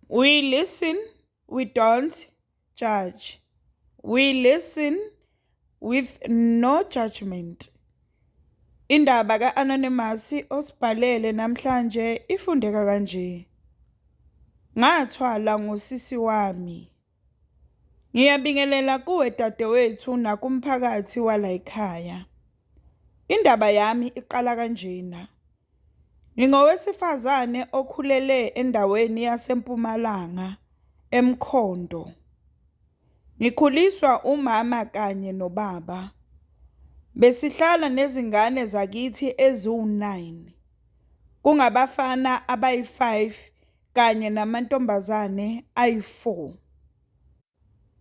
We listen, we don't judge. We listen with no judgment. Indaba ka-Anonymous osibhalele namhlanje ifundeka kanje. Ngathwala ngosisi wami. Ngiyabingelela kuwe dadewethu nakumphakathi wala ekhaya. Indaba yami iqala kanjena. Ngingowesifazane okhulele endaweni yaseMpumalanga eMkhondo. Ngikhuliswa umama kanye nobaba. Besihlala nezingane zakithi eziwu-9. Kungabafana abayi-5 kanye namantombazane ayi-4.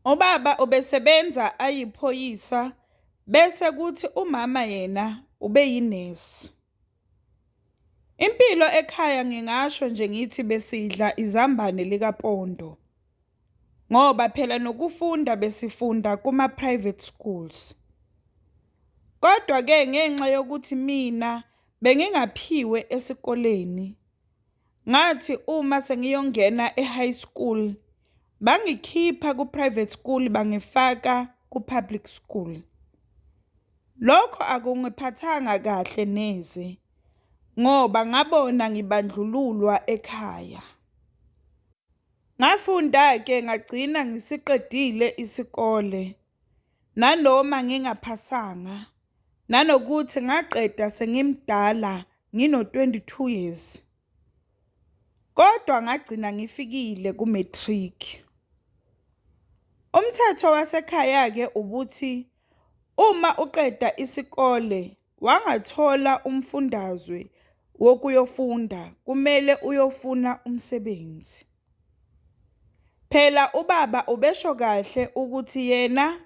Ubaba ubesebenza ayiphoyisa bese kuthi umama yena ubeyinesi. Impilo ekhaya ngingasho nje ngithi besidla izambane likapondo ngoba phela nokufunda besifunda kuma-private schools. Kodwa-ke ngenxa yokuthi mina bengingaphiwe esikoleni. Ngathi uma sengiyongena e-high school bangikhipha ku-private school bangifaka ku-public school. Lokho akungiphathanga kahle neze ngoba ngabona ngibandlululwa ekhaya. Ngafunda-ke ngagcina ngisiqedile isikole. Nanoma ngingaphasanga, nanokuthi ngaqeda sengimdala ngino-22 years, kodwa ngagcina ngifikile ku-matric. Umthetho wasekhaya-ke ubuthi uma uqeda isikole Wangathola umfundazwe wokuyofunda kumele uyofuna umsebenzi. Phela ubaba ubesho kahle ukuthi yena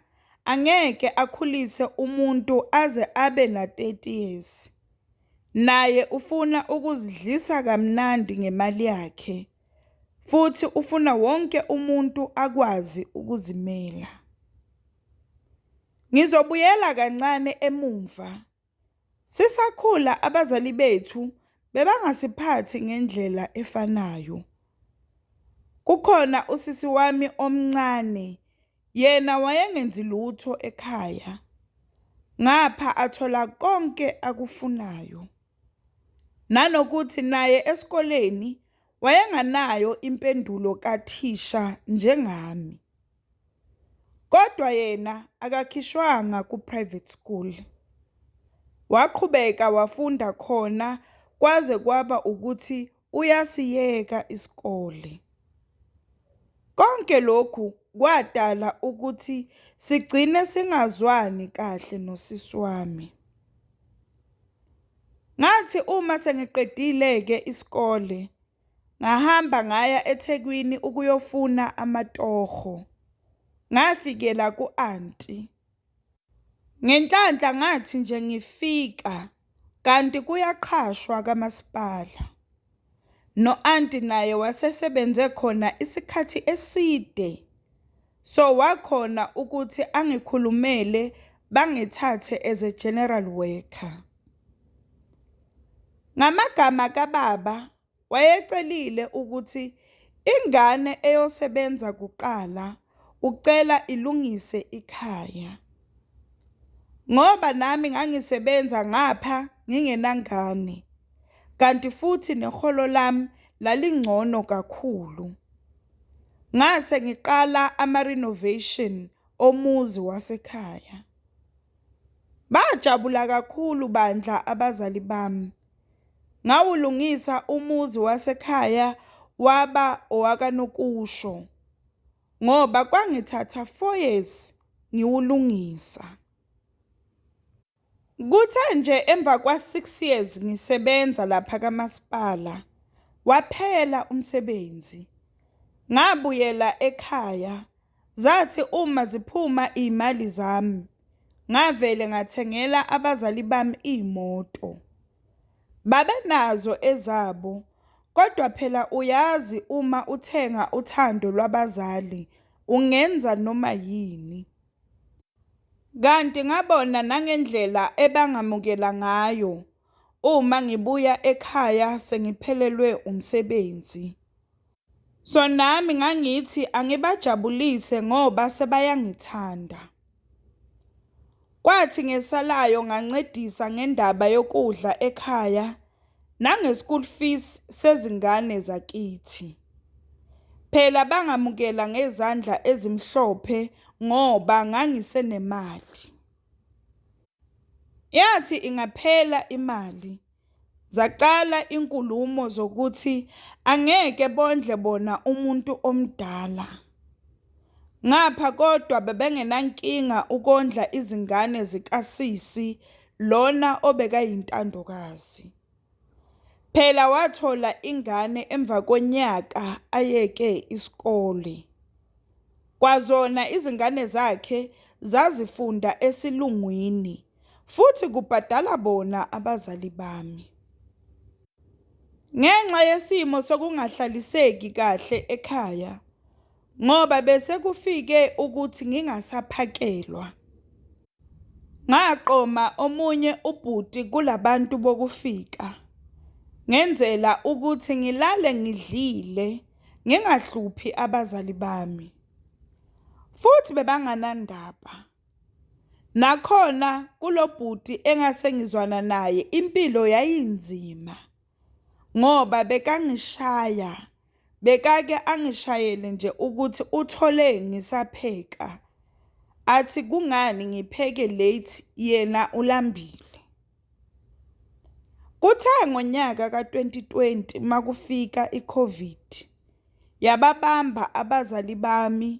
angeke akhulise umuntu aze abe na-30 years. Naye ufuna ukuzidlisa kamnandi ngemali yakhe futhi ufuna wonke umuntu akwazi ukuzimela. Ngizobuyela kancane emumva. Sisakhula abazali bethu bebangasiphathi ngendlela efanayo. Kukhona usisi wami omncane, yena wayengenzi lutho ekhaya, ngapha athola konke akufunayo. Nanokuthi naye esikoleni wayenganayo impendulo kathisha njengami. Kodwa yena akakhishwanga ku-private school, waqhubeka wafunda khona kwaze kwaba ukuthi uyasiyeka isikole. Konke lokhu kwadala ukuthi sigcine singazwani kahle nosisi wami. Ngathi uma sengiqedile-ke isikole. Ngahamba ngaya eThekwini ukuyofuna amatoho. Ngafikela ku-anti. Ngenhlanhla ngathi nje ngifika kanti kuyaqhashwa kamasipala. No-anti naye wasesebenze khona isikhathi eside. So wakhona ukuthi angikhulumele bangithathe as a general worker. Ngamagama kababa wayecelile ukuthi ingane eyosebenza kuqala ucela ilungise ikhaya. Ngoba nami ngangisebenza ngapha ngingenangane kanti futhi neholo lami lalingcono kakhulu. Ngase ngiqala ama-renovation omuzi wasekhaya. Bajabula kakhulu bandla abazali bami. Ngawulungisa umuzi wasekhaya waba owakanokusho ngoba kwangithatha four years ngiwulungisa. Kuthe nje emva kwa-six years ngisebenza lapha kamasipala waphela umsebenzi, ngabuyela ekhaya zathi uma ziphuma iy'mali zami ngavele ngathengela abazali bami iy'moto. Babenazo ezabo kodwa phela uyazi uma uthenga uthando lwabazali ungenza noma yini. Kanti ngabona nangendlela ebangamukela ngayo uma ngibuya ekhaya sengiphelelwe umsebenzi. So nami ngangithi angibajabulise ngoba sebayangithanda. Kwathi ngesalayo ngancedisa ngendaba yokudla ekhaya nange school fees sezingane zakithi. Phela bangamukela ngezandla ezimhlophe ngoba ngangisenemali. Yathi ingaphela imali zaqala inkulumo zokuthi angeke bondle bona umuntu omdala. Ngapha kodwa bebengenankinga ukondla izingane zikasisi lona obekayintandokazi. Phela wathola ingane emva konyaka ayeke isikole. Kwazona izingane zakhe zazifunda esilungwini futhi kubhadala bona abazali bami. Ngenxa yesimo sokungahlaliseki kahle ekhaya ngoba bese kufike ukuthi ngingasaphakelwa, ngaqoma omunye ubhuti kula bantu bokufika ngenzela ukuthi ngilale ngidlile ngingahluphi abazali bami futhi bebanganandaba. Nakhona kulo bhuti engase ngizwana naye impilo yayinzima ngoba bekangishaya, bekake angishayele nje ukuthi uthole ngisapheka, athi kungani ngipheke late yena ulambile. Kuthe ngonyaka ka-twenty twenty uma kufika i-COVID yababamba abazali bami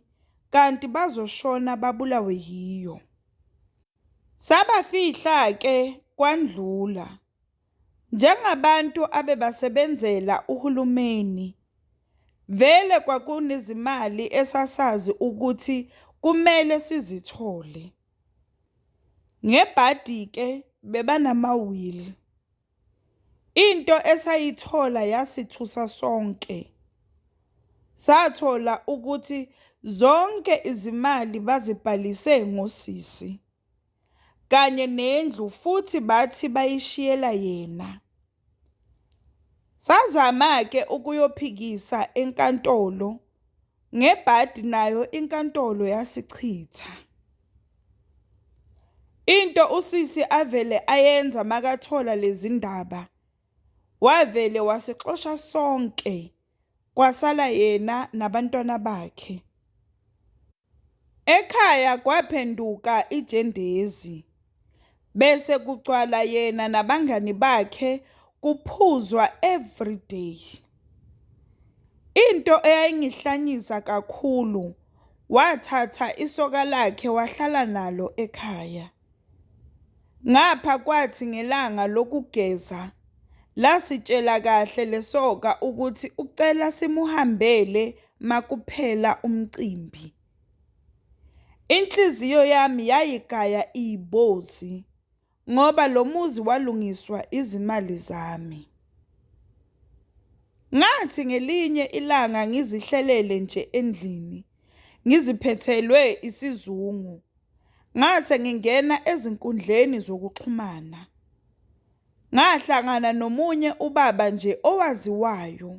kanti bazoshona babulawe yiyo. Sabafihla-ke kwandlula. Njengabantu abebasebenzela uhulumeni, vele kwakunezimali esasazi ukuthi kumele sizithole. Ngebhadi-ke bebanamawili. Into esayithola yasithusa sonke. Sathola ukuthi zonke izimali bazibhalise ngosisi kanye nendlu futhi bathi bayishiyela yena. Sazama-ke ukuyophikisa enkantolo Ngebhadi nayo inkantolo yasichitha. Into usisi avele ayenza makathola lezi ndaba wavele wasixosha sonke kwasala yena nabantwana bakhe. Ekhaya kwaphenduka ijendezi. Bese kugcwala yena nabangani bakhe kuphuzwa everyday. Into eyayingihlanyisa kakhulu wathatha isoka lakhe wahlala nalo ekhaya. Ngapha kwathi ngelanga lokugeza lasitshela kahle lesoka ukuthi ucela simuhambele makuphela umcimbi. Inhliziyo yami yayigaya ibozi ngoba lo muzi walungiswa izimali zami. Ngathi ngelinye ilanga ngizihlelele nje endlini ngiziphethelwe isizungu, ngase ngingena ezinkundleni zokuxhumana. Ngahlangana nomunye ubaba nje owaziwayo.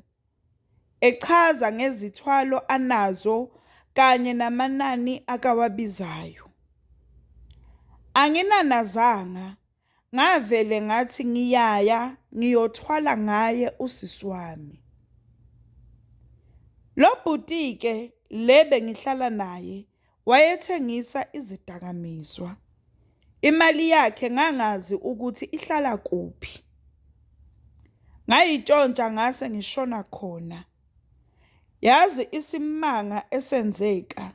echaza ngezithwalo anazo kanye namanani akawabizayo. Anginanazanga ngavele ngathi ngiyaya ngiyothwala ngaye usisi wami. Lo bhuti-ke le bengihlala naye wayethengisa izidakamizwa. Imali yakhe ngangazi ukuthi ihlala kuphi. Ngayitshontsha ngase ngishona khona. Yazi isimanga esenzeka.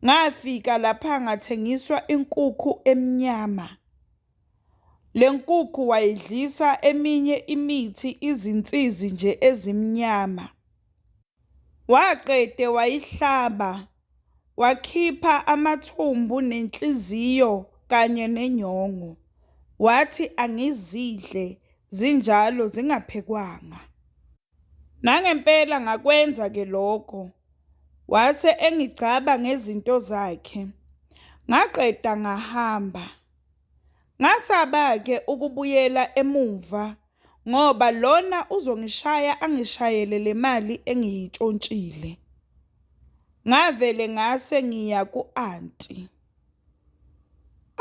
Ngafika lapha ngathengiswa inkukhu emnyama. Le nkukhu wayidlisa eminye imithi izinsizi nje ezimnyama. Waqede wayihlaba, wakhipha amathumbu nenhliziyo kanye nenyongo, wathi angizidle zinjalo zingaphekwanga. Nangempela ngakwenza-ke lokho, wase engigcaba ngezinto zakhe, ngaqeda ngahamba. Ngasaba-ke ukubuyela emuva ngoba lona uzongishaya angishayele le mali engiyitshontshile. Ngavele ngase ngiya ku-anti.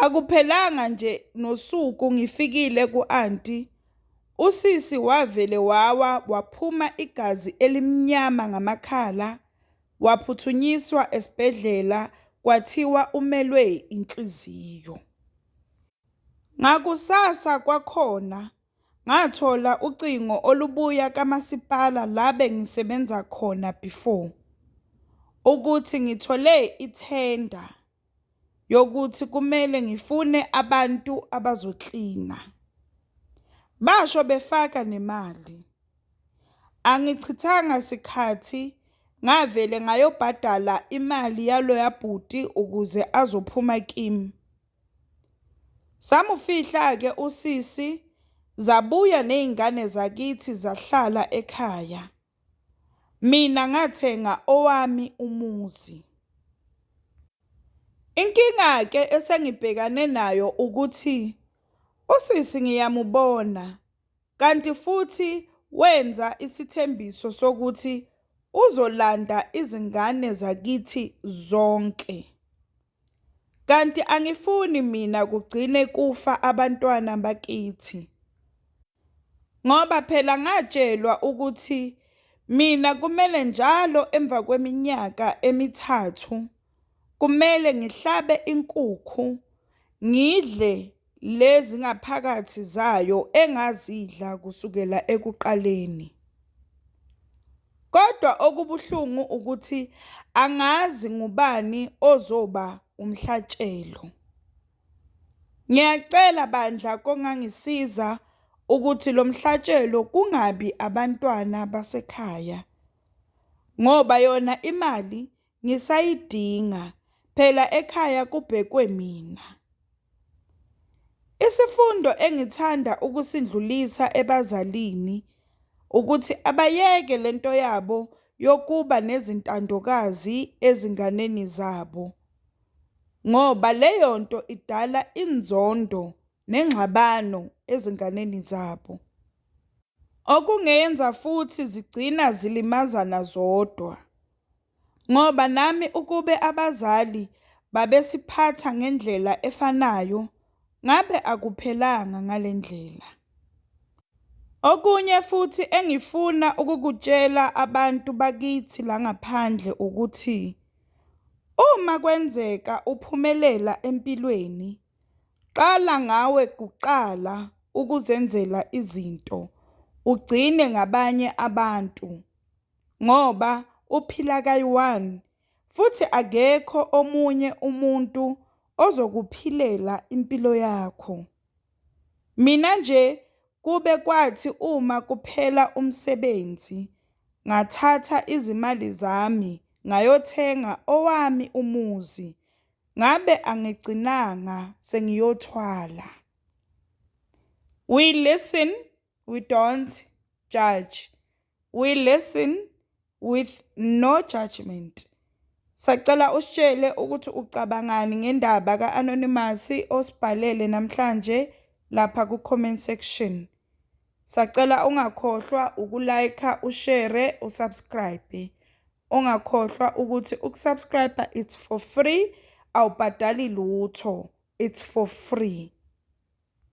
Akuphelanga nje nosuku ngifikile ku-anti, usisi wavele wawa waphuma igazi elimnyama ngamakhala, waphuthunyiswa esibhedlela kwathiwa umelwe inhliziyo. Ngakusasa kwakhona ngathola ucingo olubuya kamasipala la bengisebenza khona before ukuthi ngithole ithenda yokuthi kumele ngifune abantu abazoklina. Basho befaka nemali. Angichithanga sikhathi ngavele ngayobhadala imali yaloya bhuti ukuze azophuma kimi. Samufihla-ke usisi zabuya nezingane zakithi zahlala ekhaya. Mina ngathenga owami umuzi. Inkinga-ke esengibhekane nayo ukuthi usisi ngiyamubona kanti futhi wenza isithembiso sokuthi uzolanda izingane zakithi zonke. Kanti angifuni mina kugcine kufa abantwana bakithi. Ngoba phela ngatshelwa ukuthi mina kumele njalo emva kweminyaka emithathu kumele ngihlabe inkukhu ngidle Lezi ngaphakathi zayo engazidla kusukela ekuqaleni. Kodwa okubuhlungu ukuthi angazi ngubani ozoba umhlatshelo. Ngiyacela bandla kongangisiza ukuthi lo mhlatshelo kungabi abantwana basekhaya ngoba yona imali ngisayidinga phela ekhaya kubhekwe mina. Isifundo engithanda ukusindlulisa ebazalini ukuthi abayeke lento yabo yokuba nezintandokazi ezinganeni zabo ngoba leyo nto idala inzondo nengxabano ezinganeni zabo. Okungenza futhi zigcina zilimazana zodwa. Ngoba nami ukube abazali babesiphatha ngendlela efanayo ngabe akuphelanga ngale ndlela. Okunye futhi engifuna ukukutshela abantu bakithi la ngaphandle ukuthi uma kwenzeka uphumelela empilweni, qala ngawe kuqala ukuzenzela izinto, ugcine ngabanye abantu. ngoba uphila kayi-one futhi akekho omunye umuntu ozokuphilela impilo yakho. Mina nje kube kwathi uma kuphela umsebenzi ngathatha izimali zami ngayothenga owami umuzi, ngabe angigcinanga sengiyothwala. We listen we don't judge we listen with no judgment sacela usitshele ukuthi ucabangani ngendaba ka-anonymous osibhalele namhlanje lapha ku-comment section sacela ungakhohlwa ukulayikha ushere usubscribe ungakhohlwa ukuthi ukusubscribe it's for free awubhadali lutho it's for free